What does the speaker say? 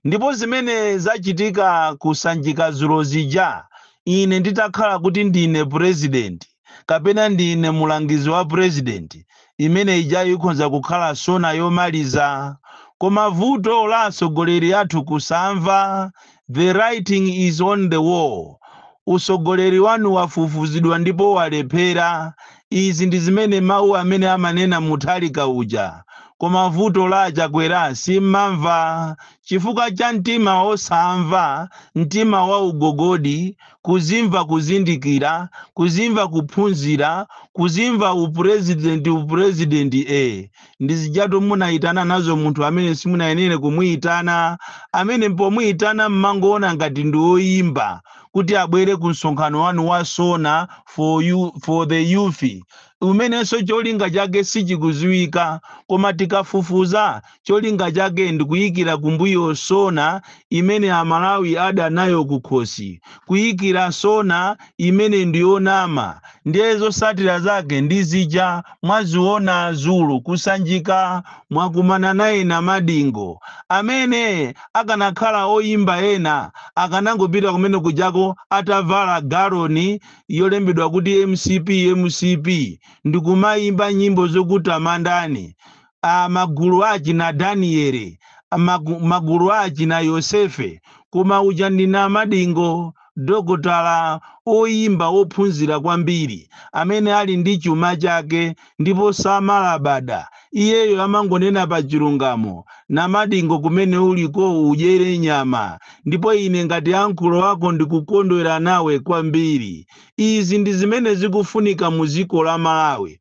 ndipo zimene zachitika ku sanjika dzulo zija ine nditakhala kuti ndine purezidenti kapena ndine mulangizi wa purezidenti imene ija ikhoza kukhala sona yomaliza koma vuto la atsogoleri athu kusamva the writing is on the wall utsogoleri wanu wafufuzidwa ndipo walephera Izi ndi zimene mau amene amanena Mutharika uja koma vuto la achakwera simmamva chifukwa cha mtima osamva, mtima wa ugogodi, kuzimva kuzindikira, kuzimva kuphunzira, kuzimva u president u president ee. ndi zijatu munayitana nazo munthu amene simunayenere kumuyitana amene pomuyitana mmangoona ngati ndi oyimba kuti abwere ku msonkhano wanu wa sona for, you, for the youth umenenso cholinga chake sichikudziwika koma tikafufuza cholinga chake ndi kuyikira kumbuyo sona imene amalawi adanayo kukhosi kuyikira sona imene ndi yonama ndiye zotsatira zake ndizija mwaziona dzulo kusanjika mwakumana naye namadingo amene akanakhala oyimba ena akanangopita kumene kujako atavala galoni yolembedwa kuti mcp mcp ndikumayimba nyimbo zokutamandani a, magulu a achina Daniele, a, magu, magulu a achina Yosefe, koma uja ndi namadingo, dokotala, oyimba wophunzira kwambiri, amene ali ndi chuma chake ndipo samalabada, iyeyo amangonena pa chilungamo, namadingo kumene ulikoo udyere nyama, ndipo ine ngati ankolo wako ndikukondwera nawe kwambiri. Izi ndi zimene zikufunika mu dziko la Malawi.